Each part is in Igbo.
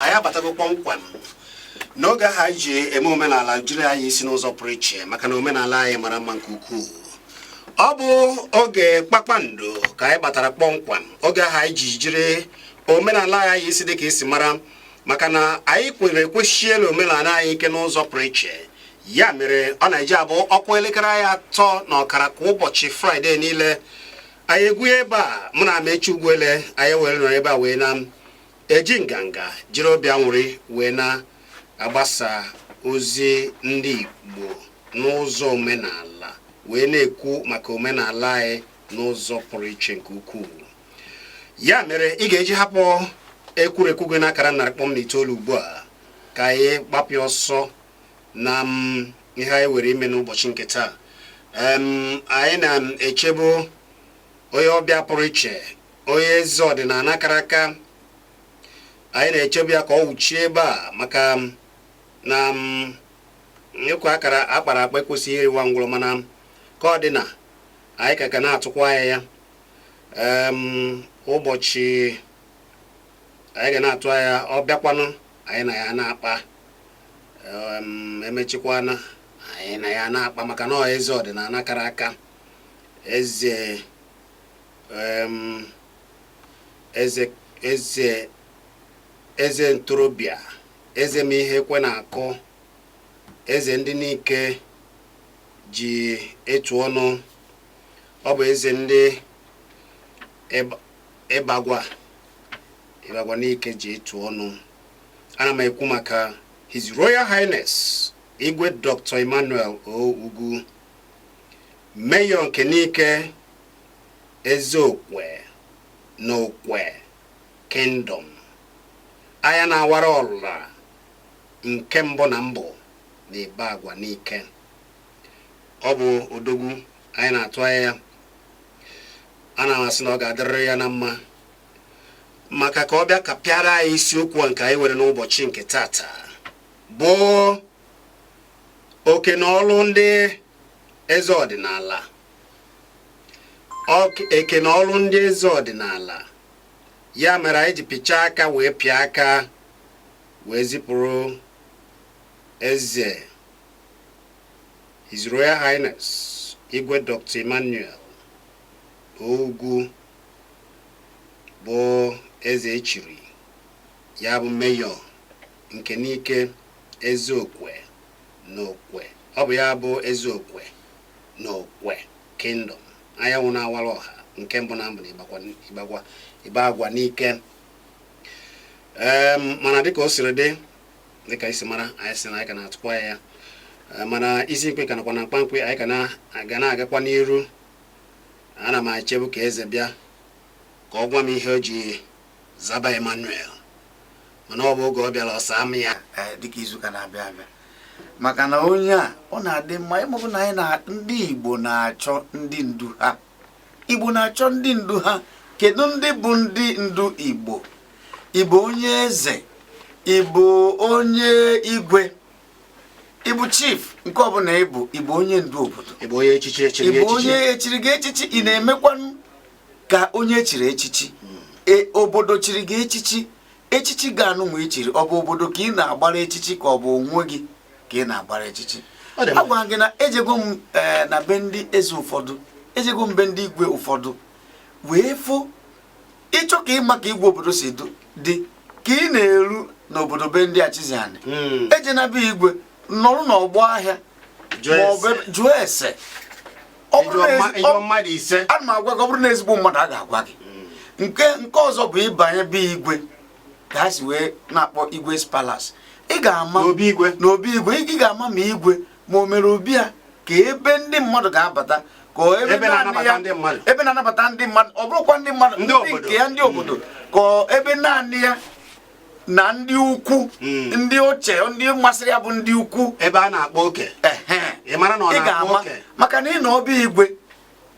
anyị abatago kpọmkwem n'oge ahụ anyị ji eme omenala jiri anya isi n'ụzọ pụrụ iche maka na omenala anyị mara mma nke ukwuu ọ bụ oge kpakpando ka anyị batara kpọmkwem oge ahụ anyị ji jiri omenala anya isi dịka ị si mara maka na anyị kwere kwesie n'omenala anyị ike n'ụzọ pụrụ iche ya mere ọ na-eji abụ ọ kụọ elekere anya atọ na ọkara kwa ụbọchị fraịde niile anyị egwuye ebe a mụ na Amaechi Ugwuele anyị were nọ ebe a wee na-eji nganga jiri obi anwụrị wee na-agbasa ozi ndị igbo n'ụzọ omenala wee na-ekwu maka omenala anyị n'ụzọ pụrụ iche nke ukwuu ya mere ị ga-eji hapụ ekwurekwu gị n'akara narị kpọm na itoolu ugbu a ka anyị gbapịa ọsọ na m ihe anyị nwere ime n'ụbọchị nke taa anyị na-echebu onye ọbịa pụrụ iche onye eze ọdịnala kara aka anyị na-echebu ya ka ọ wụchie ebe a maka na ịkwa akara akpara akpa ekwesịghị iriwa ngwụrọ mana ka ọ dị na anyị ka ka na-atụkwa anya ya ụbọchị anyị ga na-atụ anya ọ bịakwanụ anyị na ya na-akpa emechikwana anyị na ya na-akpa maka na ọ eze ọdịnala kara aka eze eze ntorobịa eze ma ihe ekwe na-akụ eze ndị Nike ji etu ọnụ ọ bụ eze ndị Ibagwa Ibagwa Nike ji etu ọnụ ana m ekwu maka His Royal Highness Igwe Dr. Emmanuel O. Ugwu Mayor nke Nike Ezeokwe na Okwe Kingdom anya na-awara ọra nke mbụ na mbụ na Ibagwa Nike ọ bụ odogwu anyị na-atụ anya ya ana m asị na ọ ga-adịrịrị ya na mma maka ka ọ bịa kapịara anyị isiokwu a nke anyị nwere n'ụbọchị nke taata bụ oke na ọlụ ndị eze ọdịnala oke na ọlụ ndị eze ọdịnala ya mere anyị ji pịchaa aka wee pịa aka wee zipụrụ eze His Royal Highness Igwe Dr. Emmanuel O. Ugwu bụ eze echiri ya bụ mayor nke Nike ezeokwe na okwe ọ bụ ya bụ ezeokwe na okwe kingdom anyanwụ na-awara ọha nke mbụ na mbụ na Ibagwa Ibagwa Nike Em, mana dịka o siri dị dịka i si mara anyị sị na anyị ka na-atụkwa ya Eh, mana isi nkwe ka nakwa na mkpamkpe anyị ka na- ga na-agakwa n'iru Ana m echebu ka eze bịa ka ọ gwa m ihe o ji zaba Emmanuel mana ọ bụ oge ọ bịara ọ saa m ya eh, dịka izu ụka na-abịa abịa maka na onye a ọ na-adị mma ịmụbụ na anyị na ndị Igbo na-achọ ndị ndu ha Igbo na-achọ ndị ndu ha kedu ndị bụ ndị ndu Igbo ị bụ onye eze ị bụ onye igwe ị bụ chief nke ọbụla ị bụ ị bụ onye ndu obodo ị bụ onye echichi echiri ị bụ onye echiri gị echichi ị na-emekwanụ ka onye echiri echichi hmm. e, obodo chiri gị echichi echichi gị anụnwa i chiri ọ bụ obodo ka ị na-agbara echichi ka ọ bụ onwe gị ka ị na-agbara echichi agwa gị na ejego m e, na be ndị eze ụfọdụ ejego m be ndị igwe ụfọdụ wee fụ ị chọọ ka ị ma ka igwe obodo si dị ka ị na-eru n'obodo be ndị achịzianị hmm. ejena be igwe nọrụ n'ọgbọ ahịa jụọ ese ana m agwa gị ọ bụrụ na ezigbo mmadụ a ga-agwa gị hmm. nke nke ọzọ bụ ị banye be igwe ka ha si wee na-akpọ igwe's palace ị gaa n'obi igwe ị ga-ama ma igwe ma o mere obi ya ka ebe ndị mmadụ ga-abata ka ebe Ebe naanị na-anabata ya- ndị mmadụ. ebe na-anabata ndị mmadụ ọ bụrụkwa ndị mmadụ Ndị obodo. nke ya ndị obodo ka ebe naanị ya na ndị ukwu Mm. ndị oche ndị masịrị ya bụ ndị ukwu ebe a na-akpa oke ehe ị mara na ọ ị na-akpa ga-ama oke maka na ị nọ obi igwe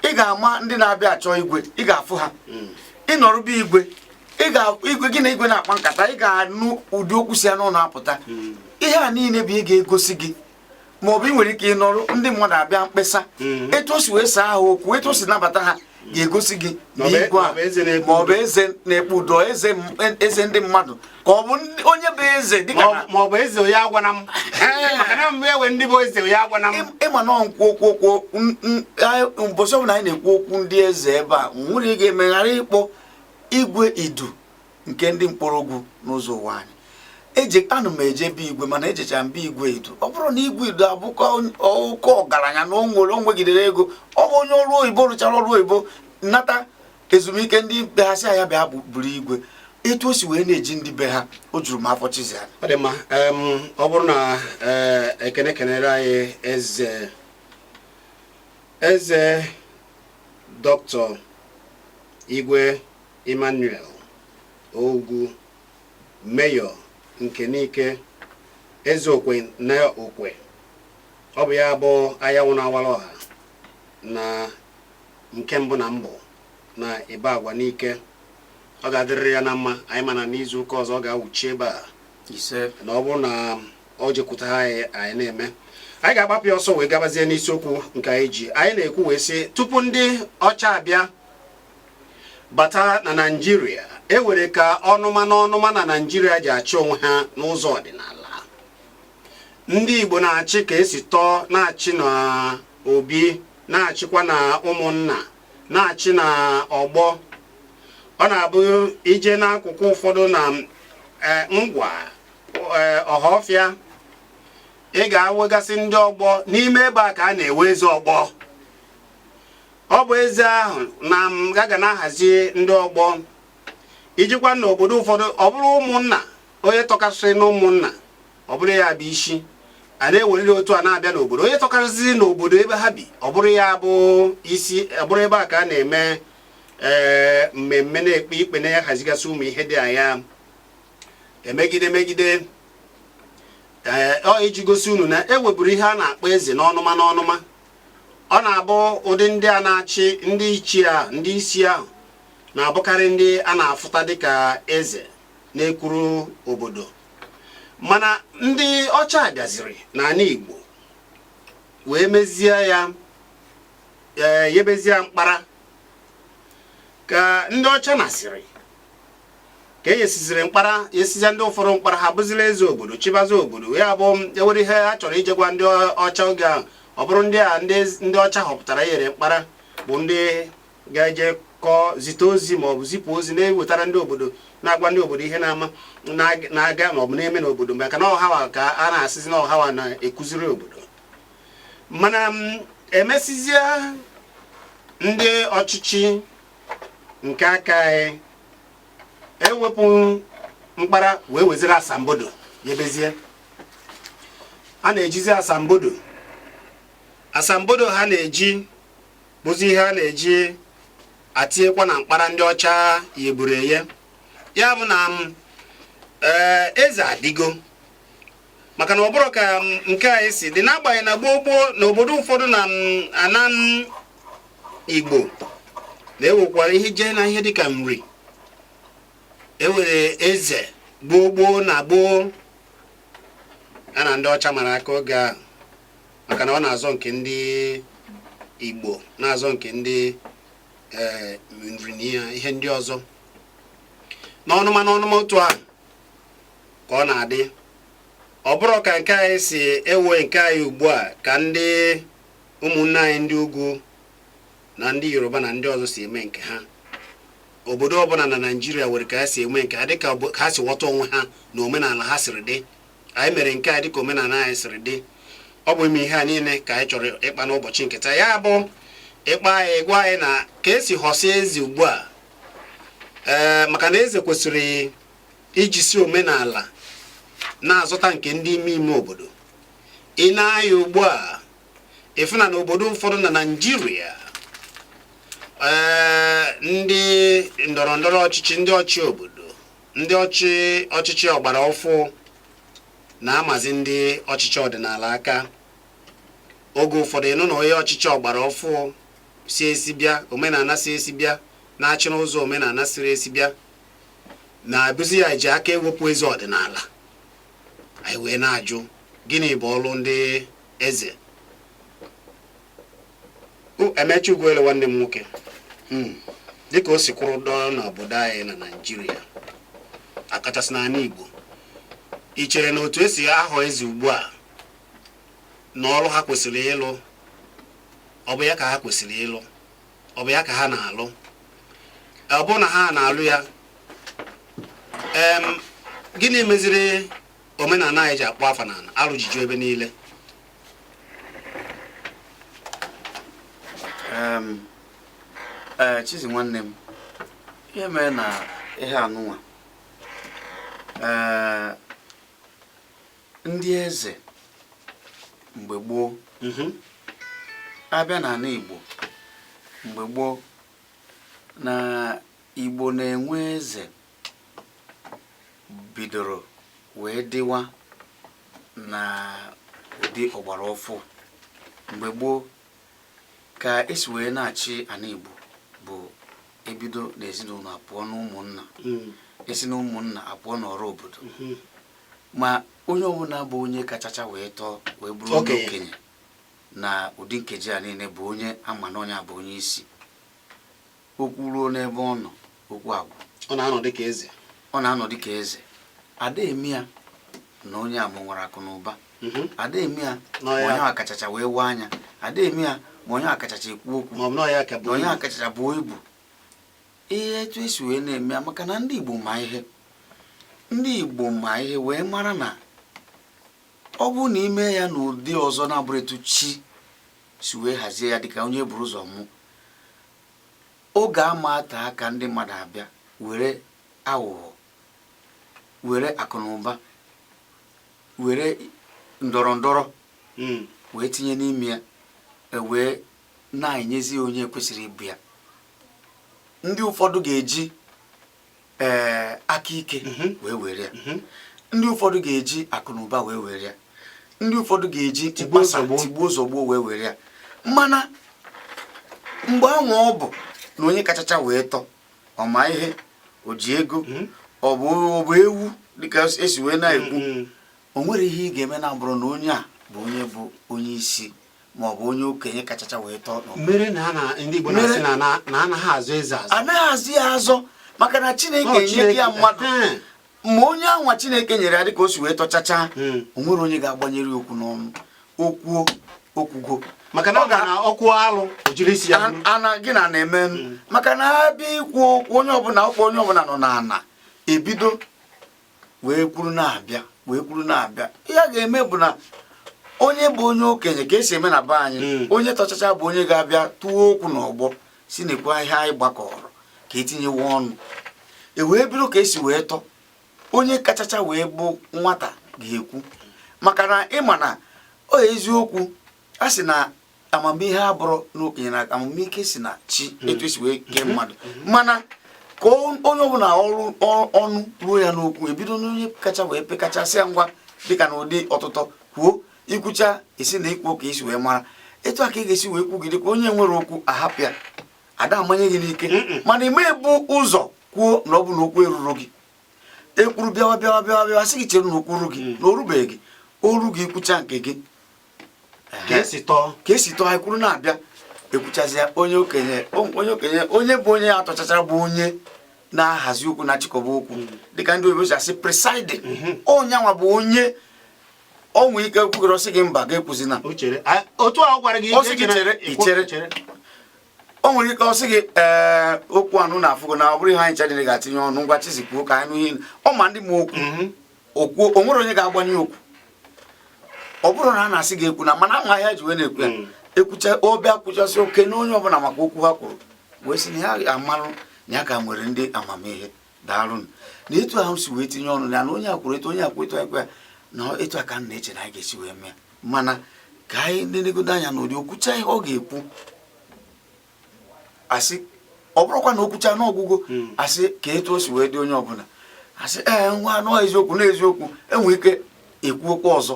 ị ga-ama ndị na-abịa achọ igwe ị ga-afụ ha hmm. ị nọrụ be igwe igwe gị na igwe na-akpa nkata ị ga-anụ ụdị okwu si ya n'ọnụ apụta hmm. ihe a niile bụ ihe ga-egosi gị ma ọ bụ ị nwere ike ịnọrụ ndị mmadụ abịa mkpesa hmm. etu o si wee saa ha okwu etu o si nabata ha ga-egosi gị na igwe a ma ọ bụ eze na-ekpe udo eze ndị mmadụ ka ọ bụ onye bụ eze dịka ma ọ bụ eze onye agwana m maka na mgbe ewe ndị bụ eze onye agwana m ị ma na nkwu okwu okwu ụbọchị ọbụla anyị na-ekwu okwu ndị eze ebe a nwere ị ga-emeghara ịkpọ igwe idu nke ndị Nkpologu n'Uzo Uwani ana m eje be igwe mana ejecha m be igwe idu ọ bụrụ na igwe idu abụkọ oke ọgaranya na o nwere o nwegidere ego ọ bụ onye ọrụ oyibo rụchara ọrụ oyibo nata ezumike ndị be ha sị ya bịa buru igwe etu o si wee na-eji ndị be ha o juru m afọ chizie ya ọ dị mma ọ bụrụ na eh, ekene kenere anyị eze eze doctor igwe Emmanuel Ugwu mayor nke Nike eze okwe na okwe ọ bụ ya bụ anyanwụ na-awara ọha na nke mbụ na mbụ na Ibagwa Nike ọ ga-adịrịrị ya na mma anyị ma na n'izu ụka ọzọ ọ ga-awụchi ebe a na ọ bụrụ na ọ jekwuta anyị anyị na-eme anyị ga-agbapụ ya ọsọ wee gabazie n'isiokwu nke anyị ji anyị na-ekwu wee sị tupu ndị ọcha abịa bata na naijiria e were ka ọnụma na ọnụma na naijiria ji achị onwe ha n'ụzọ ọdịnala ndị Igbo na-achị ka e si tọọ na-achị na obi na-achịkwa na ụmụnna na-achị na ọgbọ ọ na-abụ i jee n'akụkụ ụfọdụ na e, Ngwa e, Ọhafịa ị ga-awegasị ndị ọgbọ n'ime ebe a ka a na-ewe eze ọgbọ ọ bụ eze ahụ na-aga na-ahazi ndị ọgbọ i jekwa n'obodo ụfọdụ ọ bụrụ ụmụnna onye tọkasịrị na ụmụnna ọ bụrụ ya bụ isi a na-eweriri otu a na-abịa n'obodo onye tọkarịsịrị n'obodo ebe ha bi ọ bụrụ ya bụ isi ọ bụrụ ebe a ka a na-eme ee eh, mmemme na-ekpe ikpe na-ahazigasị ụmụ ihe dị anya emegide megide ee eh, ọ iji gosi unu na e weburu ihe a na-akpọ eze n'ọnụma n'ọnụma ọ na-abụ ụdị ndị a na-achị ndị ichie ahụ ndị isi ahụ na-abụkarị ndị a na-afụta dịka eze na-ekwuru obodo mana ndị ọcha bịaziri n'ala Igbo wee mezie ya ee yebezie mkpara ka ndị ọcha nasịrị ka e yesiziri mkpara yesizie ndị ụfọdụ mkpara ha bụzila eze obodo chibazi obodo ya bụ e were ihe ha chọrọ ije gwa ndị ọcha oge ahụ ọ bụrụ ndị a ndị ọcha họpụtara yere mkpara bụ ndị ga-eje kọọ zite ozi ma ọ bụ zipụ ozi na-ewetara ndị obodo na-agwa ndị obodo ihe na-ama na-aga ma ọ bụ na-eme n'obodo maka na ọ ha wa ka a na-asịzi na ọ ha wa na-ekwuziri obodo mana mm, e mesizie ndị ọchịchị nke aka anyị ewepụ mkpara wee weziri asambodo yebezie a na-ejizi asambodo asambodo ha na-eji bụzi ihe a na-eji atinyekwa na mkpara ndị ọcha yeburu eye ya bụ na ee eze adịgo maka na ọ bụrụ ka nke a esi dị n'agbanyeghị na gboo gboo na obodo ụfọdụ na ana igbo na-ewekwara ihe jee na ihe dịka nri ewere eze gboo gboo na gboo ya na ndị ọcha mara aka oge ahụ maka na ọ na-azọ nke ndị Igbo na-azọ nke ndị eh, nri na ihe ndị ọzọ n'ọnụma n'ọnụma otu ahụ ka ọ na-adị ọ bụrụ ka nke anyị si ewe nke anyị ugbu a ka ndị ụmụnne anyị ndị ugwu na ndị yoruba na ndị ọzọ si eme nke ha obodo ọbụla na naijiria nwere ka ha si eme nke ha dịka ha si ghọta onwe ha na omenala ha siri dị anyị mere nke a dịka omenala anyị siri dị ọ bụ ime ihe a niile ka anyị chọrọ ịkpa n'ụbọchị nketa ya bụ ịkpa anyị gwa anyị na ka esi họsie eze ugbu a ee maka na eze kwesịrị ijisi omenala na-azụta nke ndị ime ime obodo i nee anya ugbu a ị fụ na n'obodo ụfọdụ na naijiria ee ndị ndọrọ ndọrọ ọchịchị ndị ọchị obodo Ndị ọchị ọchịchị ọgbara ọfụụ na-amazi ndị ọchịchị ọdịnala aka oge ụfọdụ ị nụ na onye ọchịchị ọgbara ọfụụ si esi bịa omenala si esi bịa na-achị n'ụzọ omenala siri esi bịa na-abụzi ya ji aka ewepụ eze ọdịnala anyị wee na-ajụ gịnị bụ ọrụ ndị eze Amaechi Ugwuele nwanne m nwoke hmm. dịka o si kwụrụ dọọ n'obodo anyị na Naịjirịa ọkachasị n'ala Igbo i chere na otu esi ahọ eze ugbu a na ọrụ ha kwesịrị ịlụ ọ bụ ya ka ha kwesịrị ịlụ ọ bụ ya ka ha na-alụ ọ bụrụ na ha na-alụ ya gịnị meziri omenala anyị ji akpọ afọ n'ala alụ ji ju ebe niile ee eh, chizi nwanne m ihe mere na ihe anụnwa ee eh, ndị eze mgbe gboo mhm. a bịa n'ala igbo mgbe gboo na igbo na-enwe eze bidoro wee dịwa na ụdị ọgbara ọfụụ mgbe gboo ka esi wee na-achị ala Igbo bụ ebido n'ezinụlọ apụọ n'ụmụnna hmm. esi n'ụmụnna apụọ n'ọra obodo hmm. ma onye ọbụla bụ onye kachacha wee tọọ wee bụrụ onye okenye na ụdị nkeji a niile bụ onye a ma na onye a bụ onye isi okwu ruo n'ebe ọ nọ okwu agwụ ọ na-anọ dịka eze ọ na-anọ dịka eze a da eme ya na onye a nwere akụ na ụba mhm. a da eme ya ma onye a kachacha wee waa anya a da eme ya ma onye a kachacha ekwu okwu na onye a kachacha buo ibu ihe etu esi wee na-eme ya maka na ndị Igbo ma ihe ndị Igbo ma ihe wee mara na ọ bụrụ na i mee ya n'ụdị ọzọ na-abụrọ etu chi si wee hazie ya dịka onye buru ụzọ mụọ oge ama ete aka ndị mmadụ abịa were aghụghọ were akụnụba were ndọrọ ndọrọ hmm. wee tinye n'ime ya e wee na-enyezi onye ekwesịrọ ịbụ ya ndị ụfọdụ ga-eji ee eh, aka ike mhm. wee were ya mhm. ndị ụfọdụ ga-eji akụnụba wee were ya ndị ụfọdụ ga-eji tigbuo zọgbuo wee were ya mana mgbe anwa ọ bụ na onye kachacha wee tọọ ọ ma ihe o ji ego mhm. ọ bụ ewu dịka esi wee na-ekwu o nwerọ ihe ị ga-eme na-abụrọ na onye a bụ onye bụ onye isi ma ọ bụ onye okenye kachacha wee tọọ mere na ndị Igbo na-asị na anaghị azọ eze azọ anaghị azọ ya azọ maka na Chineke enye ya mmadụ ma onye anwa Chineke nyere ya dịka o si wee tọchacha hmm. o nwerọ onye ga-agbanyere okwu n'ọnụ o kwuo o kwugo maka na ọ ga na ọkwụ alụ ojiri isi ya ana gị na na-eme hmm. maka na a bịa ikwu okwu onye ọbụla ọkwa onye ọbụla nọ n'ana ebido wee kwuru na-abịa wee kwuru na-abịa ihe a ga-eme bụ na onye bụ onye okenye ka esi eme na be anyị hmm. onye tọchacha bụ onye ga-abịa tụọ okwu n'ọgbọ sị nekwa ihe anyị gbakọọrọ ka etinyewe ọnụ e wee bido ka esi wee tọọ onye kachacha wee bụ nwata ga-ekwu maka na ị ma na ọ eziokwu a sị na amamihe abụrọ n'okenye na amamihe si na chi hmm. etu esi wee kee hmm. mmadụ hmm. mana ka onye ọbụla ọnụ ruo ya n'okwu ebido n'onye kacha wee pekacha sị ya ngwa dịka na ụdị ọtụtọ kwuo i kwuchaa esi na ikwu ka i si wee mara etu a ka ị ga-esi wee kwugide ka onye nwere okwu a hapụ ya a da amanye gị n'ike mana ị ma-ebu ụzọ kwuo na ọ bụ na okwu erurọ gị ekwuru bịawa bịawa bịawa bịawa sị gị chere na okwu ruo gị na o rubeghị gị o ruo gị i kwuchaa nke gị ka esi tọọ ka esi tọọ anyị kwuru na-abịa ekwuchazịa onye okenye onye okenye onye bụ onye tọchachara bụ onye na-ahazi okwu na-achịkọba okwu hmm. dịka ndị oyibo si asị presiding hmm. onye anwa bụ onye o nwee ike kwugoro sị gị mba gị ekwuzina otu ahụ gwara gị ichere ichere o nwere ike ọ sị gị ee okwu a ụnụ afụgo na ọ bụrọ ihe anyị chadịrị ga-etinye ọnụ ngwa chizi kwuo ka anyị nụ ihe ọ ma ndị ma okwu hmm. okwu o nwere onye ga-agbanye okwu ọ bụrụ na a na-asị gị ekwuna mana e nwee ihe e ji wee na-ekwu ya hmm. ekwucha ọ bịa kwuchasị o kene onye ọbụla maka okwu ha kwuru wee sị na ya amarọ na ya ka nwere ndị amamihe daalụ na etu ahụ si wee tinye ọnụ ya na onye ekwuru etu onye ekwu etu ekwe ya na etu a ka m na-eche na anyị ga-esi wee mee mana ka anyị na-enegodo anya n'ụdị okwucha ihe ọ ga-ekwu a sị ọ bụrọkwa na okwucha na ọ gwụgo hmm. a sị kee etu o si wee dị onye ọbụla asị ee nwa anụ eziokwu na eziokwu enwe ike ekwu okwu ọzọ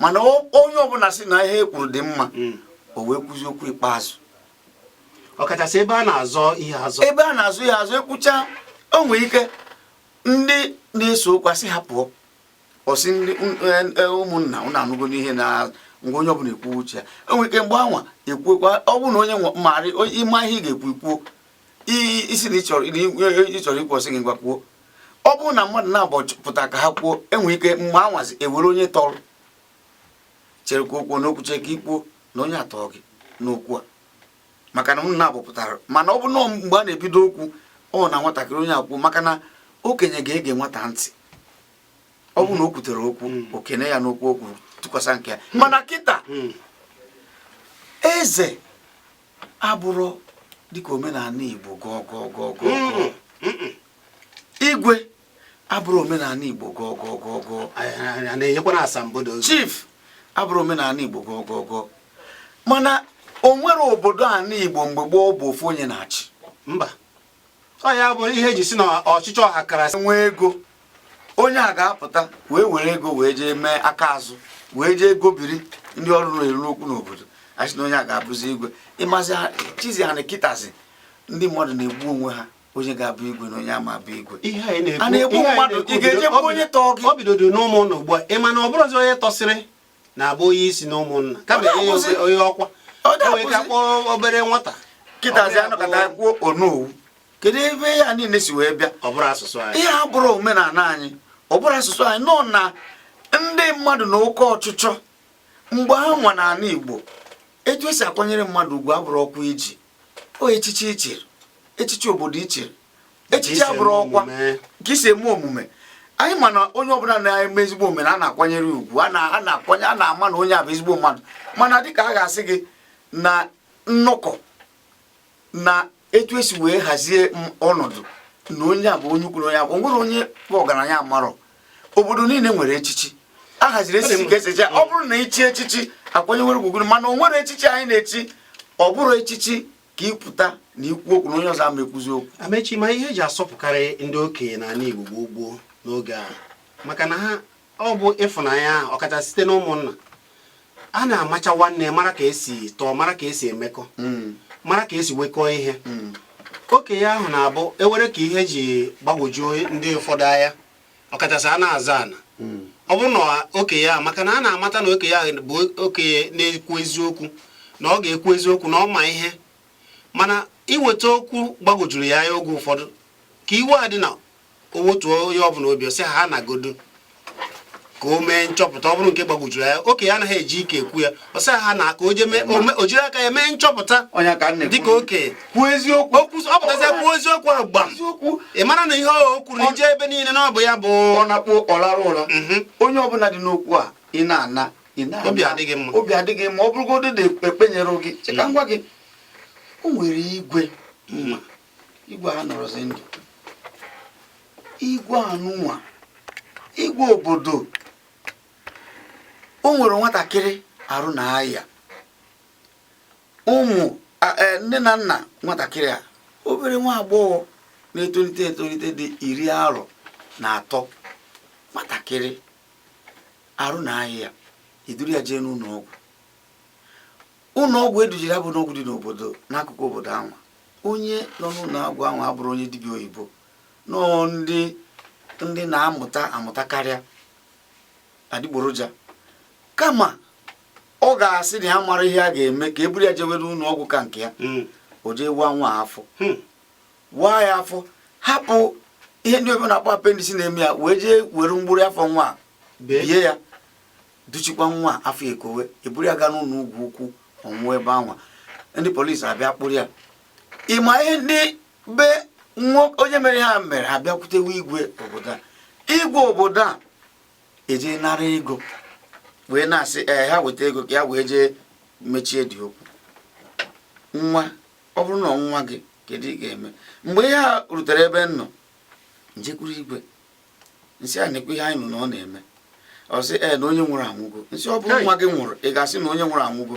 mana onye ọbụla sị na ihe e kwuru dị mma hmm. o wee kwuzi okwu ikpeazụ ọkachasị ebe a na-azọ ihe azọ ebe a na-azọ ihe azọ ekwucha o nwere ike ndị na-ese okwu a sị ha pụọ ọ sị ndị e, e, ụmụnna ụnụ anụgo n'ihe na ngwa onye ọbụla ekwu uche ya enwere ike mgbe anwa ekwuekwa ọ bụrụ na onye marị ị ma ihe ị ga-ekwu ikwuo ị sị na ị chọrọ e, ikwu ọ sị gị ngwa kwuo ọ bụrụ na mmadụ naabọ pụta ka ha kwuo enwere ike mgbe anwazi ewere onye tọrọ chere ka o kwuo na o kwuchaa ka i kwuo na onye a tọ gị n'okwu a maka na unu naabọ pụtara mana ọ bụ na ọ mgbe a na-ebido okwu ọ na nwatakịrị onye ekwu maka na okenye ga-ege nwata ntị ọ bụ na o kwutere okwu hmm. o kene ya n'okwu o kwu tụkwasị nke ya hmm. mana kịta hmm. eze abụrọ dịka omenala Igbo gọọ gọọ gọọ gọọ igwe abụrọ omenala Igbo gọgọgọgọ na-enyekwara asambodo chief abụrọ omenala Igbo gọgọgọ mana o nwere obodo anị Igbo mgbe gboo bụ ofu onye na-achị mba ọ ya bụ ihe e ji sị na ọchịchị ọha karasị nwee ego onye a ga-apụta wee were ego wee jee mee aka azụ wee jee gobiri ndị ọnụ na-eru n'okwu n'obodo a sị na onye a ga-abụzi igwe ị mazi chizi ha na kịtazi ndị mmadụ na-egbu onwe ha onye ga-abụ igwe na onye ama abụ igwe a na-egbu mmadụ ị ga-ejekwa onye tọọ gị ọ bidodo n'ụmụnna ugbu a ị ma na ọ bụrọzi onye tọsịrị na-abụ onye isi na ụmụnna kama onye ọkwa onye ka kpọọ obere nwata kịtazi anọkọta kwuo onowu kedu ebe ihe a niile si wee bịa ọ bụrọ asụsụ anyị ihe a abụrọ omenala anyị ọ bụrọ asụsụ anyị nọ na ndị mmadụ na oke ọchịchọ mgbe ahụ nwa n'ala Igbo etu esi akwanyere mmadụ ugwu abụrọkwa iji o echichi ichiri echichi obodo ichiri echichi abụrụ ọkwa ka isi eme omume anyị ma na onye ọbụla na-eme ezigbo omume na a na-akwanyere ugwu a na-akwanye a na-ama na onye a bụ ezigbo mmadụ mana dịka a ga-asị gị na nnọkọ na etu esi wee hazie ọnọdụ na onye a bụ onye ukwu na onye nwere onye bụ ọgaranya amarọ obodo niile nwere echichi a haziri echichi nke echichi ọ bụrụ na ichi echichi akwanyewere gị ugwu mana o nwere echichi anyị na-echi ọ bụrụ echichi ka ịpụta na ikwu okwu na onye ọzọ ama ekwuzi okwu amechi ma ihe eji asọpụkarị ndị okenye n'ala Igbo gboo gboo n'oge a maka na ha ọ bụ ịfụnanya ọkachasị site n'ụmụnna a na-amacha nwanne mara ka esi tọọ mara ka esi emekọ mm. mara ka esi wekọọ ihe mm. okenye ahụ na-abụ ewere ka ihe ji gbagwojuo ndị ụfọdụ anya ọkachasị a na-azọ ana mm. ọ bụrụ na okenye ahụ maka na a na-amata na okenye ahụ bụ okenye na-ekwu eziokwu na ọ ga-ekwu eziokwu na ọ ma ihe mana iweta okwu gbagwojuru ya anya oge ụfọdụ ka iwe adịna o wetuo onye ọbụla obi ọ sị ha naagodu ka o mee nchọpụta ọ bụrụ nke gbagwojuru ya okenye anaghị eji ike ekwu ya ọ sị ha na ka o je mee ome- o jiri aka ya mee nchọpụta ọnya ka nne dịka okenye kwuo eziokwu okwu ọ pụtazi kwuo eziokwu ahụ gbam eziokwu ị mara na ihe o kwuru na ije ebe niile na ọ bụ ya bụ ọ na-akpọ ọ larụ ụra Mhm. onye ọbụla dị n'okwu a ị na-ana ị na-ana. Obi adị gị mma. obi adị gị mma ọ bụrụgodị na ekpenyere gị chee ka m gwa gị o nwere igwe m ma igwe a anọrọzi ndụ igwe anụnwa igwe obodo o nwere nwatakịrị arụ na-aya ụmụ e, nne na nna nwatakịrị a obere nwa agbọghọ na-etolite etolite dị iri arọ na atọ nwatakịrị arụ na-aya eduru ya jee n'ụlọ ọgwụ ụlọ ọgwụ edujere ya bụ ụlọ ọgwụ dị n'obodo n'akụkụ obodo anwa onye nọ n'ụlọ ọgwụ ahụ abụrọ onye dibịa oyibo nọọ ndị ndị na-amụta amụta karịa adịgboroja kama ọ ga-asị na ya amarọ ihe a ga-eme ka e buru ya jewere ụlọ ọgwụ ka nke ya hmm. o jee waa nwa afọ hmm. waa ya afọ hapụ ihe ndị oyibo na-akpọ appendix na-eme ya wee jee were mgbụrụ afọ nwa bie ya duchikwa nwa afọ ekowe eburu ya gaa n'ụlọ ọgwụ ukwu ọ nwụọ ebe anwa ndị polisi abịa kpụrụ ya ị ma ihe ndị be onye mere ihe a mere ha bịakwutewe igwe obodo a igwe obodo a eje nara ego wee na-asị ee ha weta ego ka ya wee jee mechie dị okwu nwa ọ bụrụ na nwa gị kedu ị ga-eme mgbe ihe a rutere ebe m nọ m jekwuru igwe m sị ya nekwa ihe anyị nụ na ọ na-eme ọ sị ee na onye nwụrụ anwụgo m sị ọ bụrụ nwa gị nwụrụ ị ga-asị na onye nwụrụ anwụgo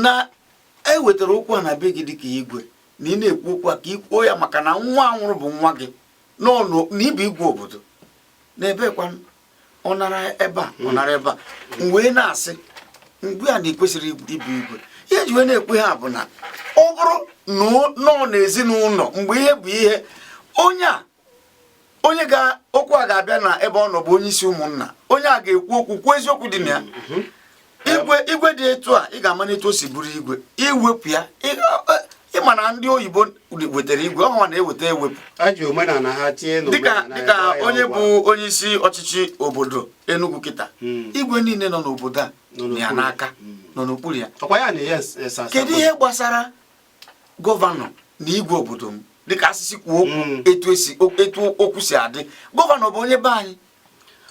na e wetara okwu a na be gị dịka igwe na ị na-ekwu okwu a ka ị kwuo ya maka na nwa nwụrụ bụ nwa gị na ị bụ igwe obodo na ebekwa ọ nara ebe a ọ hmm. nara ebe a m wee na-asị mgbe a na i kwesịrị ịbụ igwe ihe ji wee na-ekwu ihe a bụ na ọ bụrụ na ọ na ezinụlọ mgbe ihe bụ ihe onye a onye okwu a ga-abịa na ebe ọ nọ bụ onye isi ụmụnna onye a ga-ekwu okwu kwuo eziokwu dị na ya mhm. igwe igwe dị etu a ị ga-ama na etu o si bụrụ igwe iwepụ ya ị ma na ndị oyibo wetara igwe ọ hanwa na-eweta ewepụ dịka onye bụ onye isi ọchịchị obodo Enugu kịta hmm. igwe niile nọ n'obodo a nọ ya n'aka hmm. nọ n'okpuru ya kedu ihe gbasara gọvanọ na igwe obodo m dịka a sị sị kwuo okwu mm. etu esi etu okwu si adị gọvanọ bụ onye be anyị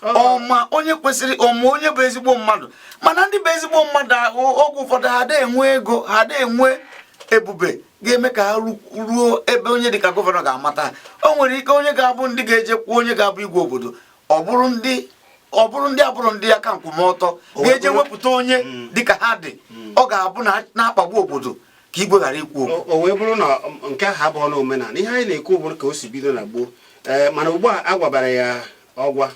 ọ ma onye kwesịrị ọ ma onye bụ ezigbo mmadụ mana ndị bụ ezigbo mmadụ ahụ oge ụfọdụ ha ada enwe ego ha ada enwe ebube ga-eme ka ha ruo ebe onye dịka gọvanọ ga-amata o nwere ike onye ga-abụ ndị ga-eje kwuo onye ga-abụ igwe obodo ọ bụrụ ndị ọ bụrụ ndị abụrọ ndị aka nkwụmọtọ ga-eje wepụta onye mm. dịka ha dị mm. ọ ga-abụ na-akpagbu obodo ka igwe ghara ikwu okwu o wee bụrụ na nke ahụ abụrọ na omenala ihe anyị na-ekwu bụ ka o si bido na gboo ee eh, mana ugbu a a gwabara ya ọgwa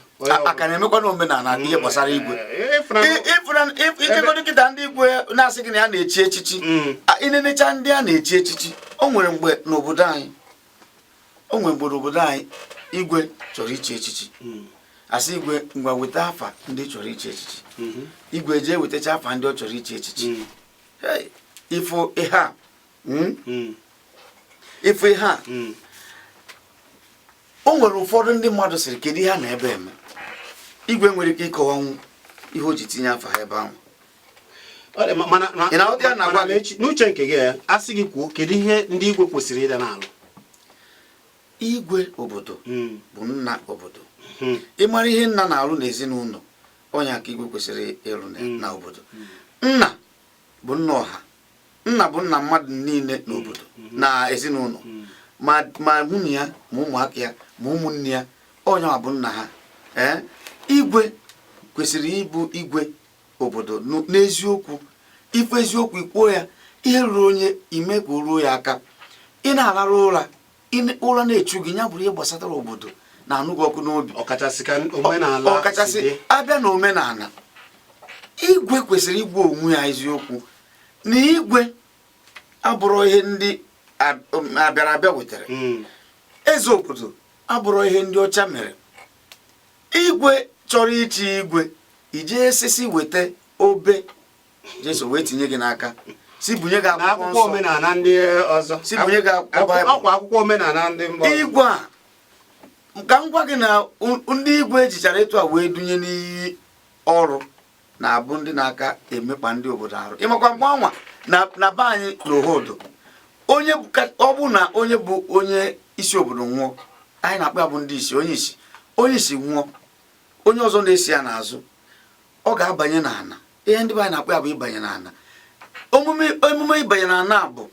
a ka na-emekwanụ omenala ihe gbasara mm, igwe eh, i jegodi kịta ndị igwe na-asị gị na ya na-echi echichi mm. i nenecha ndị a na-echi echichi o nwere mgbe n'obodo anyị o nwere mgbe n'obodo anyị igwe chọrọ ichi echichi mm. a sị igwe ngwa weta afa ndị chọrọ ichi echichi mm-hmm. igwe jee wetacha afa ndị ọ chọrọ ichi echichi ị fụ ihe a hmm? Hmm. ị fụ ihe a hmm. o nwere ụfọdụ ndị mmadụ sịrị kedu ihe ha nọ ebe a eme igwe nwere ike ịkọwanwu ihe o ji tinye afa ha ebe ahụ n'uche nke gị a sị gị kwuo kedu ihe ndị igwe kwesịrị ịda na-arụ igwe obodo hmm. bụ nna obodo hmm. ị mara ihe nna na-arụ n'ezinụlọ ọ nya ka igwe kwesịrị ịrụ na hmm. obodo hmm. nna bụ nna ọha nna bụ nna mmadụ niile n'obodo hmm. na ezinụlọ ma nwunye ya ma ụmụaka ya ma ụmụnne ya ọ nya bụ nna ha ee igwe kwesịrị ịbụ igwe obodo n'eziokwu ị fụ eziokwu i kwuo ya ihe ruru onye i mee ka o ruo ya aka ị naa larụ ụra ime ụra na-echu gị ya bụrụ ihe gbasatara obodo na-anụ gị ọkụ n'obi ọkachasị abịa na omenala igwe kwesịrị ịgwa onwe ya eziokwu na igwe abụrọ ihe ndị um, abịara abịa wetara hmm. eze obodo abụrọ ihe ndị ọcha mere igwe chọrọ ichi igwe iji esisi weta obe Jesu wee tinye gị n'aka si bunye gị akwụkwọ omenala ndị ọzọ si bunye gị akwụkwọ omenala ndị mba igwe a ka m gwa gị na ndị igwe ejichara etu a wee dunye n'iyi ọrụ na-abụ ndị na-aka emekpa ndị obodo arụ ịmakwa mgbe anwa na be anyị n'Ohodo ọ bụ na onye bụ onye isi obodo nwụọ anyị na-akpọ ya bụ ndị isi onye isi onye isi nwụọ onye ọzọ na-esi ya n'azụ ọ ga-abanye n'ana ihe ndị be anyị na-akpọ ya bụ ịbanye n'ana emume ịbanye n'ana bụ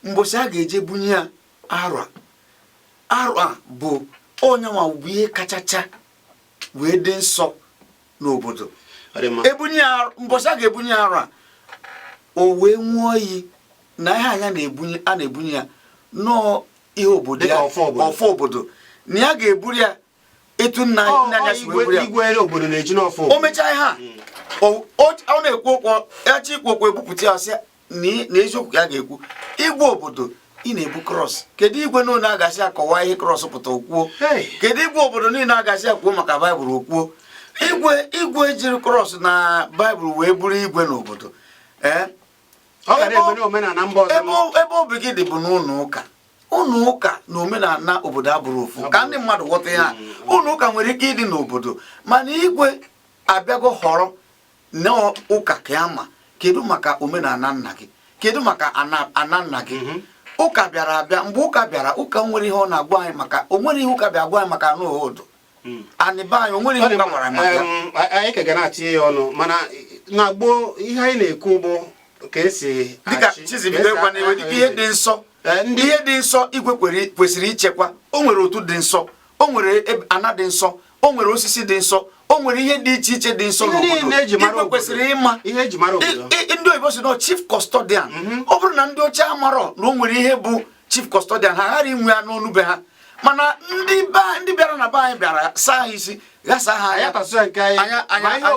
mbọsị a ga-eje bunye ya arụa arụa bụ onye nwa bụ ihe kachacha wee dị nsọ n'obodo ebunye mbọsị a ga-ebunye ya arụa o wee ṅụọ iyi na ihe anwa a na-ebunye ya na ọ ihe obodo ya ọfọ obodo na ya ga-eburu ya etu nna anyị si wee buru ya o mechaa ihe a hmm. ọ na-ekwu okwu echi ikwu okwu ebupụta ya sị na eziokwu ya ga-ekwu igwe obodo ị na-ebu cross kedu igwe niile a ga-asị kọwaa ihe cross pụta o kwuo kedu igwe obodo niile a ga-asị kwuo maka baịbụl o kwuo igwe jiri cross na baịbụl wee bụrụ igwe n'obodo ebe obi gị dị bụ n'ụlọ ụka ụlọ ụka na omenala obodo abụrọ ofu ka ndị mmadụ ghọta ya ụlọ ụka nwere ike ịdị n'obodo mana igwe abịago họrọ na ụka ka ya ma kedu maka omenala nna gị kedu maka ana nna gị mhm. ụka bịara abịa mgbe ụka bịara ụka o nwere ihe ọ na-agwa anyị maka o nwere ihe ụka bịa gwa anyị maka ana Ohodo hmm. ana be anyị o nwere ihe gbanwara anyị ka ga na-atinye ya ọnụ mana na gboo ihe anyị na-ekwu bụ ka esi dịka chizibido gwa na ihe dị nsọ eh, ndị ihe dị nsọ igwe kwesịrị ichekwa o nwere otu dị nsọ o nwere ana dị nsọ o nwere osisi dị nsọ o nwere ihe dị iche iche dị nsọ n'obodo igwe kwesịrị ịma ndị oyibo sị na chief custodian mhm. ọ bụrụ na ndị ọcha amarọ na o nwere ihe bụ chief custodian ha ghara inwe ya n'ọnụ be ha mana ndị bịara na be anyị bịara saa ha isi ghasa ha anya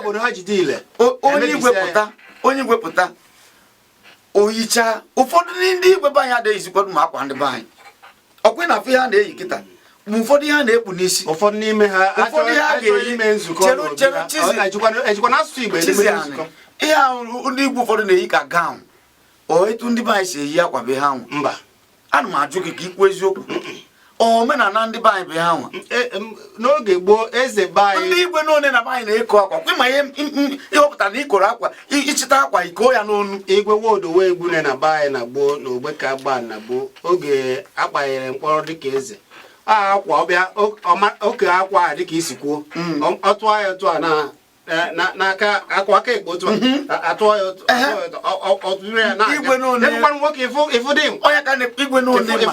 onye igwe pụta o yicha ụfọdụ ndị igwe be anyị adịghị eyizikwa ma akwa ndị be anyị ọkwa na afe ha na-eyi kịta ma ụfọdụ ihe ha na-ekpu n'isi ụfọdụ n'ime ha ụfọdụ ihe a ga-eyi chere chere chizi ihe ahụ ndị igwe ụfọdụ na-eyi ka gown o etu ndị be anyị si eyi akwa be ha nwa mba ana m ajụ gị ka ikwu eziokwu omenala ndị be anyị bụ ha nwa e, n'oge gboo eze be anyị ndị igwe niine na be anyị na-eko akwa kwa ma ịhọpụta na ikoro akwa ichita akwa iko ya n'onu igwe Nwodo wee gbune na be anyị na gboo na ogbe ka gba na gboo oge akpanyere mkpọrọ dịka eze akwa ọbịa oke akwa a dịka isi kwuo mm. ọ tụọ ya otu a na n'aka akụ aka ekpe otu atụọ ya otu ọtụrụ ya na-aga nwoke ị fụ ndị igwe niine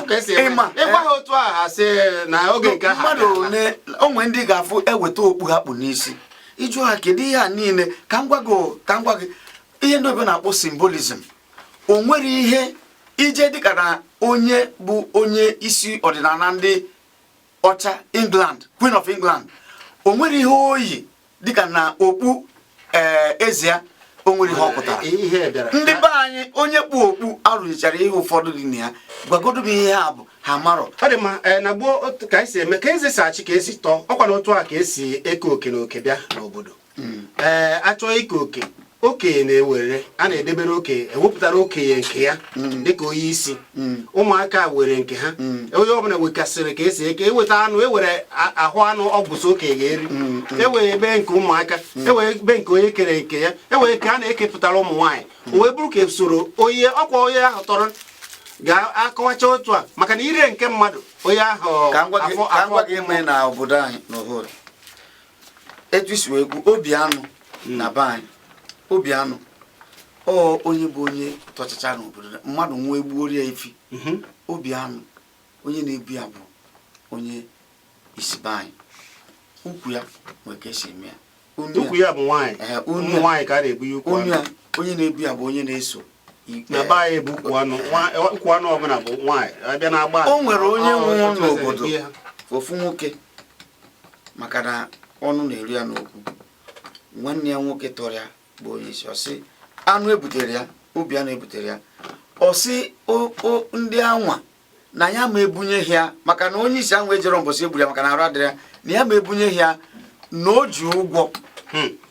ịma ịgwa ha otu a ha si na oge nke ha mmadụ one o nwe ndị ga-afụ eweta okpu ha kpu n'isi ị jụọ ha kedu ihe a niile ka m gwa gị ka m gwa gị ihe ndị oyibo na-akpọ symbolism o nwere ihe i jee dịka na onye bụ onye isi ọdịnala ndị ọcha England Queen of England o nwere ihe o yi dịka na okpu ee eh, eze ya o nwere ihe ọ pụtara ndị be anyị onye kpu okpu arụzichara ihe ụfọdụ dị na ya gwagodu m ihe a bụ ha marọ ọ dị mma eh, na gboo ka anyị si eme ka eze si achị ka esi tọọ ọkwa na otu a ka esi eke oke na oke bịa n'obodo ee eh, achọọ ike oke okenye na-ewere a na-edebere okenye ewepụtara okenye nke ya mm. dịka onye isi mm. ụmụaka were nke ha mm. onye ọbụla wekasịrị ka esi eke eweta anụ ewere ahụ anụ ọgwụsị okenye ga-eri ewere ebe nke ụmụaka ewere ebe nke onye kere nke ya ewere ka a na-ekepụtara ụmụ nwaanyị wee bụrụ ka esoro onye ọkwa onye ahụ tọrọ ga-akọwacha otu a maka na iri nke mmadụ onye ahụ afọ afọ gị na obodo anyị n'obodo etu isi wee kwu obi anụ hmm. na be anyị obi anụ ọ onye bụ onye tọchacha n'obodo mmadụ nwụọ egbuoro ya efi mhm. obi anụ onye na-ebu ya bụ onye isi be anyị ukwu ya nwere ka esi eme ya ukwu ya bụ nwaanyị ụmụ nwaanyị ka a na-ebu ya ukwu anụ onye na-ebu ya bụ onye na-eso na be anyị bụ ukwu anụ ukwu anụ ọbụla bụ nwaanyị abịa na agba o nwere onye nwụrụ n'obodo ofu nwoke maka na ọnụ na-eru ya n'okwu nwanne ya nwoke tọrọ ya bụ onye isi ọ sị anụ ebutere ya obi anụ ebutere ya ọ sị ndị anwa na ya ma ebunye ya maka na onye isi anwa ejerọ mbọsị egburu ya maka na arụ adịrọ ya na ya ma ebunye ya na o ji ụgwọ hmm.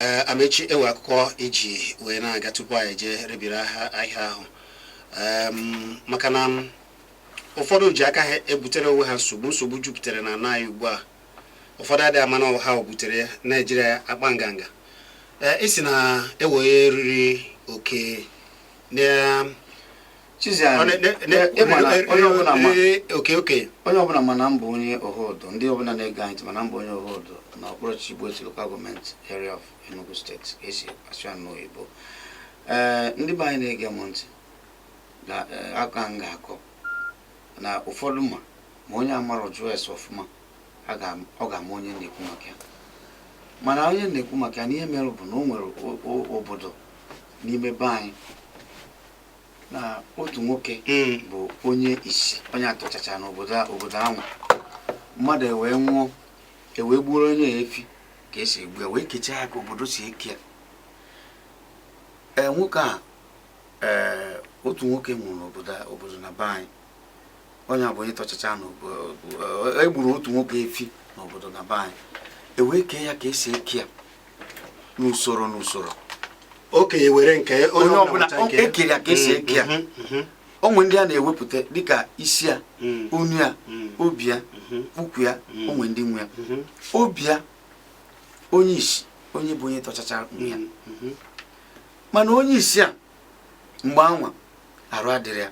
ee Amechi enwe akụkọ iji wee na-aga tupu anyị jee rebiri ahịa ahụ Em, maka na m, ụfọdụ ji aka ha ebutere onwe ha nsogbu nsogbu jupụtara n'ana anyị ugbu a ụfọdụ adịghị ama na ọ ha butere ya na-ejiri ya akpa nganga ee isi na ewee eriri oke na onye ọbụla ma na m bụ onye Ohodo ndị ọbụla na-ege anyị ma na m bụ onye Ohodo na okpuru ọchịchị Igbo-Etiti local government area of Enugu State ka esi asụ ya n'oyibo ee eh, ndị be anyị na-ege m ntị na eh, aka m ga-akọ na ụfọdụ ma ma onye amara jụọ ese ọfụma ọ ga-ama onye na-ekwu maka ya mana onye na-ekwu maka ya na ihe mere bụ na o nwere obodo n'ime be anyị na otu nwoke hmm. bụ onye isi onye tọchacha n'obodo obodo ahụ mmadụ ewee nwụọ ewee gbuoro onye ya efi ka esi egbu ya wee kechaa ya ka obodo si eke ya ee nwoke a ee otu nwoke nwụrụ n'obodo obodo na be anyị onye a bụ onye tọchacha na egburu otu nwoke efi n'obodo na be anyị ewee kee ya ka esi eke ya n'usoro n'usoro okenye were nke onye ọbụla ekere ya ka esi eke ya mm-hmm, mm-hmm. o nwee ndị a na-ewepụta dịka isi ya mm. onu ya mm. obi ya mm-hmm. ukwu ya mm. o nwee ndị nwe ya obi ya onye isi onye bụ onye tọchacha nwe ya mana onye isi a mgbe anwa arụ adịrọ ya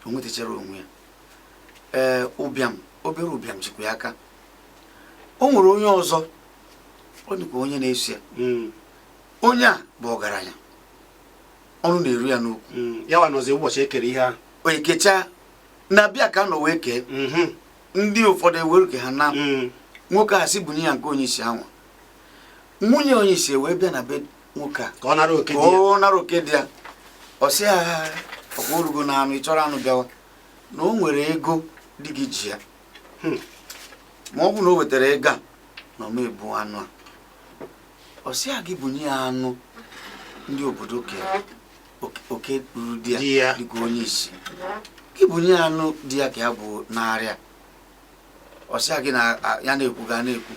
o nwetacharọ onwe ya ee ụbịam obere ụbịam jikwa ya aka o nwere onye ọzọ ọ dịkwa onye na-eso ya mm. onye a bụ ọgaranya ọnụ na-eru ya n'okwu mm. ya wa nọzi ụbọchị ekere ihe ahụ o ekechaa na be ya ka a nọ wee kee mm-hmm. ndị ụfọdụ ewere ke ha naa mm. nwoke a sị bunye ya nke onye isi anwa nwunye onye isi wee bịa na be nwoke a ka ọ nara oke ka di ya ọ nara oke di ya ọ sị ya ọkwa orugo na anụ ị chọrọ anụ bịawa na o nwere ego di gị ji ya Hmm. ma ọ bụ na o wetara ego a na ọ ma ebu anụ a ọ sị ya gị bunye ya anụ ndị obodo ke oke- oke ruru di ya Di ya. dịka onye isi gị bunye ya anụ di ya ka ya bunara ya ọ sị ya gị na ya na-ekwu gị ana-ekwu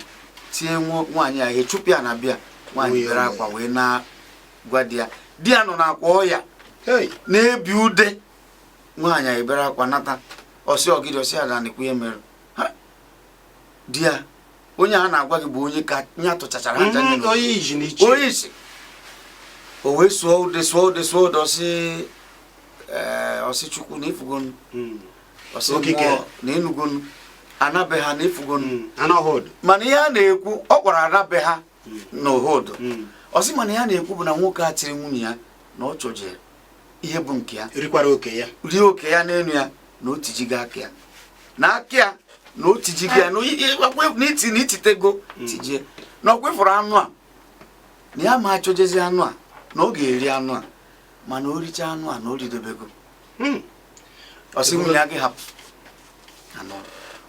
tie nwaanyị ya ihe chụpụ ya na be ya nwaanyị bere akwa wee naa gwa di ya di ya nọ n'akwa ọya na-ebi ude nwaanyị ebere akwa nata ọ sị ọ gịdị ọ sị ada na-ekwu ihe mere di ya onye a na-agwa gị bụ onye ka ya tọchachara aja mm, onye isi o wee sụọ ude sụọ ude sụọ ude ọ sị ọ sị Chukwu na ị fụgo hmm. ọ sị mmụọ na ị nụgonu ana be ha na ị fụgonu hmm. mana ihe a na-ekwu ọ kpọrọ ana be ha hmm. na Ohodo hmm. ọ sị mana ihe ya na-ekwu bụ na nwoke a tiri nwunye ya na ọ chọjere ihe bụ nke ya rikwara oke ya rie oke ya n'elu ya na o tijigo aka ya na aka ya na o tijigo ya na iti na ititego tijie na ọkwa ị fụrụ anụ a na ya ma achọjezi anụ a na ọ ga-eri anụ a mana o richaa anụ a na o ridebego Hmm. ọ sị nwunye ya gị hapụ anụ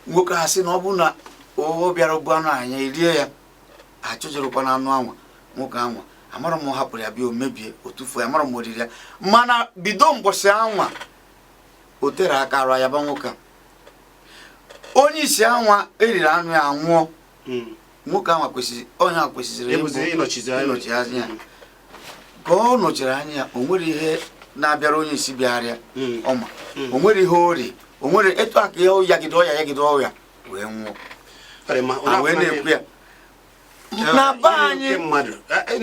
nwoke ha sị na ọ bụrụ na o bịara bu anụ anwa erie ya achọjerukwa na anụ anwa nwoke anwa amara m hapụrụ ya bịa o mebie o tufuo ya amara m oriri ya mana bido mbọsị anwa o tero aka arụ ayaba nwoke a onye isi anwa eriri anụ ya anwụọ hmm. nwoke ahụ kwesịrị onye ahụ kwesịrị ịnọchi anya ya ka ọ nọchiri anya ya o nwere ihe na-abịara onye isi bịara ya hmm. ọma hmm. o nwere ihe o ri o nwere etu aka ya yagide ọya yagide ọya wee nwụọ wee na-ekwu ya na be anyị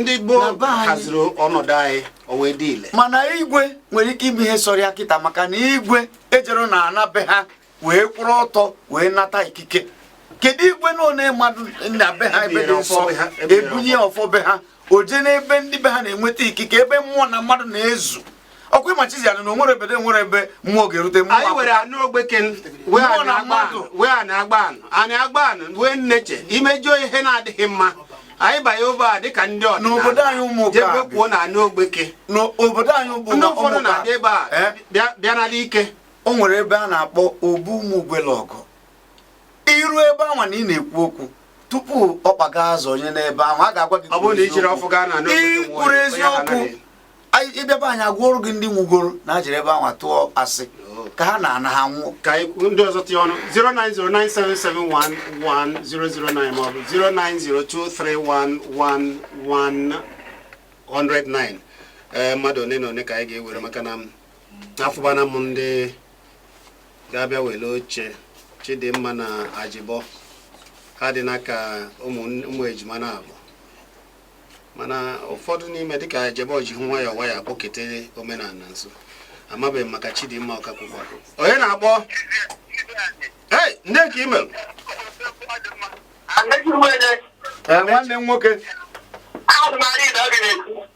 ndị gboo haziri ọnọdụ anyị o wee dị ile mana igwe nwere ike ime ihe sọrọ ya kịta maka na igwe ejero na ana be ha wee kwụrụ ọtọ wee nata ikike kedu igwe na one mmadụ na be ha ebe dị nsọ e bunye ya ọfọ be ha o je n'ebe ndị be ha na-enweta ikike ebe mmụọ na mmadụ na-ezu ọkwa ịma chizi anụ na o nwere ebe nwere ebe mmụọ ga-erute mmụọ anyị were anụ ogbeke wee ana agba anụ anyị agba anụ wee na-eche imejọ ihe na-adịghị mma anyị banye ebe a dịka ndị ọdịnala anyị ụmụ jebe kwuo na anụ ogbeke n'obodo anyị ụmụ ụfọdụ na-abịa ebe a eh? bịa n'ala ike o nwere ebe a na-akpọ obu ụmụ ugwelọgụ i ru ebe anwa na ị na-ekwu okwu tupu ọkpa gị azọnye n'ebe anwa a ga-agwa gị i kwuru eziokwu ị bịaba anyị agụọrọ gị ndị nwụgoro na ha jere ebe anwa tụọ asị ka ha na-ana ha nwụọ ka ndị ọzọ tinye ọnụ 09097711009 maọbụ 09023111009 ee eh, mmadụ one na one ka anyị ga-ewere maka na afụbana m ndị ga-abịa were oche chidimma na ajibọ ha dị n'aka ụmụ ejima naabọ mana ụfọdụ n'ime dịka ajibọ ji hụ nwayọọ nwayọọ kpụkete omenana nso amabeghị m maka chidimma ọkakwụkwọ onye na-akpọ ee ndị ka i melu nwanne m nwoke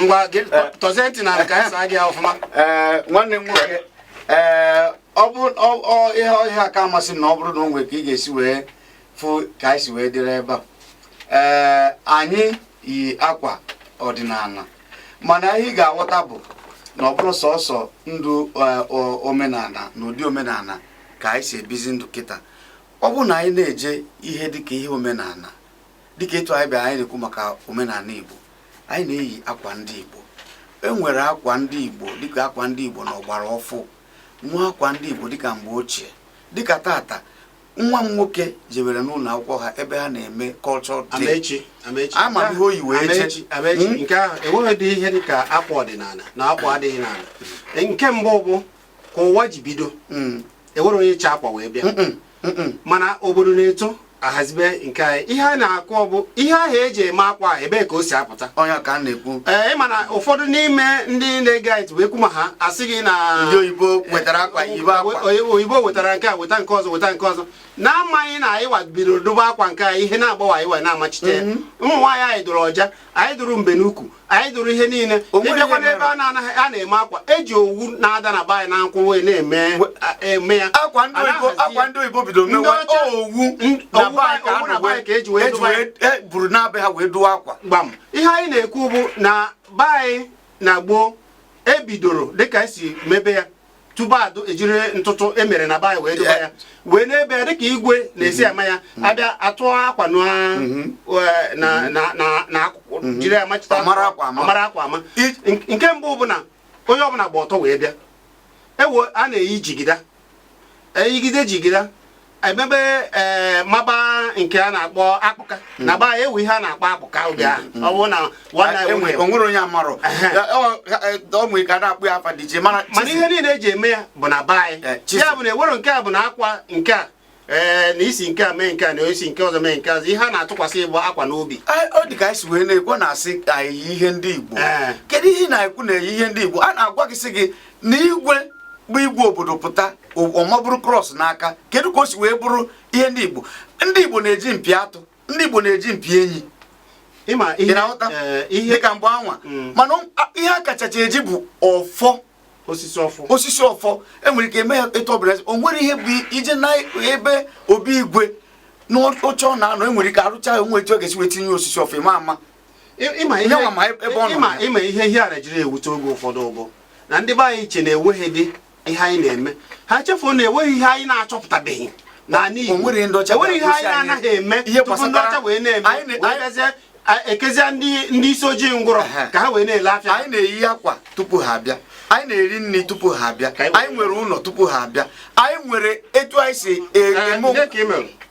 ngwa gị eh. tọzie ntị n'ana ka anyị saa gị ọfụma eh, nwanne m nwoke ee eh, ọ bụ ihe ya-aka amasị m na ọ bụrụ na o nwere ka ị ga-esi wee fụ ka anyị si wee dịrị ebe a ee anyị yi akwa ọdịnana mana ihe ị ga-aghọta bụ na ọ bụrọ sọsọ ndụ omenana na ụdị omenana ka anyị si ebizi ndụ kịta ọ bụrụ na anyị na-eje ihe dịka ihe omenana dịka etu anyị bịara anyị na-ekwu maka omenala Igbo anyị na-eyi akwa ndị Igbo e nwere akwa ndị Igbo dịka akwa ndị Igbo na ọgbara ọfụụ nwee akwa ndị Igbo dịka mgbe ochie dịka tata nwa m nwoke jebere n'ụlọ akwụkwọ ha ebe ha na-eme cultural day ama m ihe o yi wee jee hmm? nke ahụ enweghị dị ihe dịka akwa ọdịnala na akwa adịghị n'ala nke mbụ bụ ka ụwa ji bido hmm. enwere onye chị akwa wee bịa mana obodo na-eto ahazibe nke anyị ihe a na-akụ ọ bụ ihe ahụ eji eme akwa ahụ ebee ka o si apụta onye ka a na-ekwu ee ịma na ụfọdụ n'ime ndị na-ege anyị ntị bụ ekwu ma ha asị gị na ndị oyibo wetara akwa yibe akwa oyibo wetara nke a weta nke ọzọ weta nke ọzọ na-amaghị na anyị wa bidoro dụbe akwa nke anyị ihe na-akpawa anyị wa na-amachite mhm. ụmụ nwaanyị anyị dụrụ ọja anyị dụrụ mbe n'ukwu anyị dụrụ ihe niile ịbịakwa n'ebe a na a na-eme akwa eji owu na-ada na be anyị na nkwụ wee na-eme eme ya akwa ndị oyibo bidoro mewe owu na be anyị ka eji wee eburu naa be ha wee dụwa akwa gbam ihe anyị na-ekwu bụ na be anyị na gboo ebidoro dịka esi mebe ya tupu adụ ejiri ntụtụ e mere na be anyị wee dụba ya wee na-ebe ya dịka igwe na-esi ama ya mm-hmm. abịa atụ akwa mm-hmm. na akụkụ mm-hmm. jiri ya machita mara akwa ama nke mbụ bụ na onye ọbụla gba ọtọ wee bịa ewe a na-eyi jigida eyigide jigida emebe ee eh, maba nke a na-akpọ akpụka hmm. na gbaa ewu ihe a na-akpọ akpụka oge ahụ hmm. ọ bụrụ na ah, e e onwere onye amarọ ọmụ ka na-akpọ ya afa dị iche mana ihe niile eji eme ya bụ na be anyị eh, ya bụ na ewere nke a bụ na akwa nke a ee eh, na isi nke a mee nke a na isi nke ọzọ mee nke ọzọ ihe a na-atụkwasị bụ akwa n'obi ọ dị ka anyị si wee na-ekwu na-asị ka eyi ihe ndị Igbo kedu ihe na-ekwu na-eyi ihe ndị Igbo a na-agwa gị sị gị na igwe bụ igwe obodo pụta ọ ma buru cross n'aka kedu ka o si wee bụrụ ihe ndị Igbo ndị Igbo na-eji mpi atụ ndị Igbo na-eji mpi enyi ịna-ahụta eh, ihe ka mgbe anwa mm. mana ihe a kachacha eji bụ ọfọ osisi ọfọ osisi ọfọ enwere ike eme ya etu ọbụla o nwere ihe bụ ije na ebe obi igwe n'oche ọ na-anọ enwere ike arụcha o nwee etu ọ ga-esi wee tinye osisi ọfọ ịma ama ịma ihe ihe a na-ejiri ewute oge ụfọdụ ọ bụ na ndị be anyị che na enweghị dị ihe anyị na-eme ha chefuo na enweghị ihe anyị na-achọpụtabeghị n'ala Igbo enweghị ihe anyị na-anaghị eme tupu ndị ọcha wee na-eme ekezie ndị isi ojii ngwụrọ ka ha wee na-ele afịa anyị na-eyi akwa tupu ha abịa anyị na-eri nri tupu ha abịa anyị nwere ụlọ tupu ha abịa anyị nwere etu anyị si eme